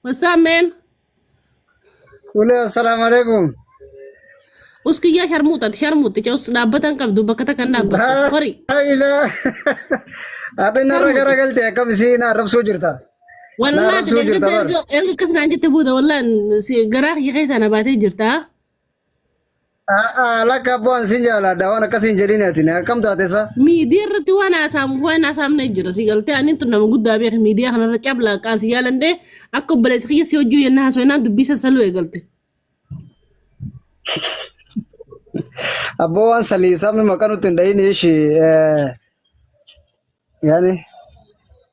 What's up, man? Wale assalamu alaikum. Us kiyyaa sharmuuxati sharmuuxi cus dhaabbata hin qabdu bakka takka hin dhaabbattu. Horii. Haila. Adin narra gara galte akkam isiin arrabsuu jirta. Wallaahi Laarabsuu jirta bar. erga akkas naan jette booda wallaan si- garaa kiyya keessaa na baatee jirta. Lakka abboo an sin jaaladha waan akkas hin jedhin ati akkam taate sa. Miidiyaa irratti waan haasaamuuf waan haasaamu na jira. Si galtee ani tun nama guddaa beeku miidiyaa kanarra cablaa qaan si jaalandee akka obboleessa kiyya si hojjuu yennaa haasofnaan dubbii sassaluu eegalte. Abboo waan salii sabni maqaa nutti hin dhahin ishi yaani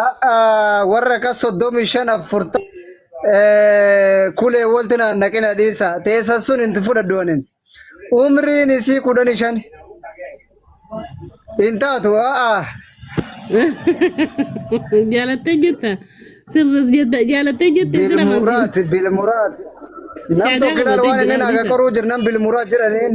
A'aa warra kas soddomii shan afurta kulee walti na naqina dhiisa teessan sun hin fudhadhu anin umriin isii kudhan shan hin taatu a'aa Jaalattee jetta. Sirris jetta. Jaalattee jette sira mansiisa. bilmuraat bilmuraat nam Shaadaa tokko ilaalu waan qabatee inni naaga jiraachisa. qoruu jirnan bilmuraat jedhaniin